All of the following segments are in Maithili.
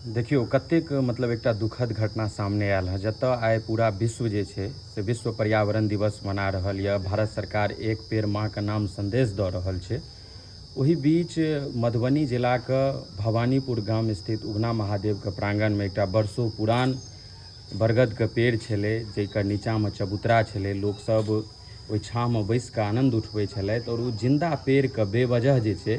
देखियौ कतेक मतलब एकटा दुखद घटना सामने आयल हँ जतय आइ पूरा विश्व जे छै से विश्व पर्यावरण दिवस मना रहल यऽ भारत सरकार एक पेड़ माँ के नाम संदेश दऽ रहल छै ओहि बीच मधुबनी जिलाके भवानीपुर गाम स्थित उगना महादेवके प्राङ्गणमे एकटा वर्षो पुरान बरगद के पेड़ छेलै जेकर नीचा मे चबूतरा छेलै लोक सब ओहि छाह मे बैस के आनंद उठबै छलथि आओर ओ जिन्दा पेड़ के बेवजह जे छै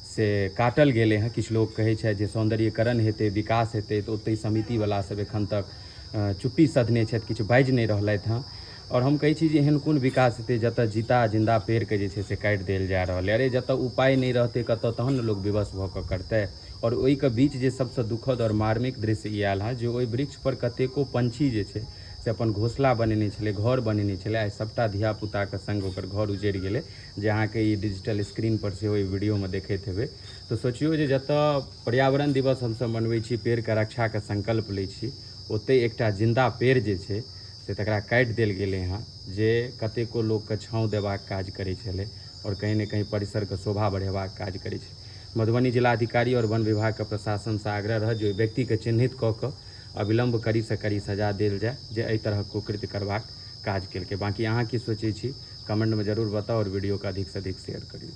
से काटल गेलै हँ किछु लोक कहै छथि जे सौन्दर्यकरण हेतै विकास हेतै तऽ ओतहि समिति वला सब एखन तक चुप्पी सधने छथि किछु बाजि नहि रहलथि हँ आओर हम कहै छी जे एहन कोन विकास हेतै जतऽ जीता जिन्दा पेड़ के जे छै से काटि देल जा रहल यऽ अरे जतऽ उपाय नहि रहतै कतऽ तहन ने लोक विवश भऽ कऽ करतै आओर ओहिके बीच जे सबसँ दुखद आओर मार्मिक दृश्य ई आयल हँ जे ओहि वृक्ष पर कतेको पंछी जे छै से अपन घोसला बनेने छलै घर बनेने छलै आइ सबटा धियापुताके संग ओकर घर उजड़ि गेलै जे अहाँके ई डिजिटल स्क्रीन पर सेहो ई वीडियोमे देखैत हेबै तऽ सोचियौ जे जतऽ पर्यावरण दिवस हमसब मनबै छी पेड़के रक्षाके संकल्प लै छी ओतहि एकटा जिन्दा पेड़ जे छै से तकरा काटि देल गेलै हँ जे कतेको लोकके छाँव देबाक काज करै छलै आओर कहीं ने कहीं परिसरके शोभा बढ़ेबाक काज करै छलै मधुबनी जिलाधिकारी आओर वन विभाग के प्रशासन सं आग्रह रहत जे ओहि व्यक्ति के चिन्हित क क अविलंब कड़ी सं कड़ी सजा देल जाय जे एहि तरहक कुकृत्य करबाक काज केलकै। बाकी अहां की सोचै छी कमेंट मे जरूर बताउ आओर वीडियो के अधिक सं अधिक शेयर करियौ।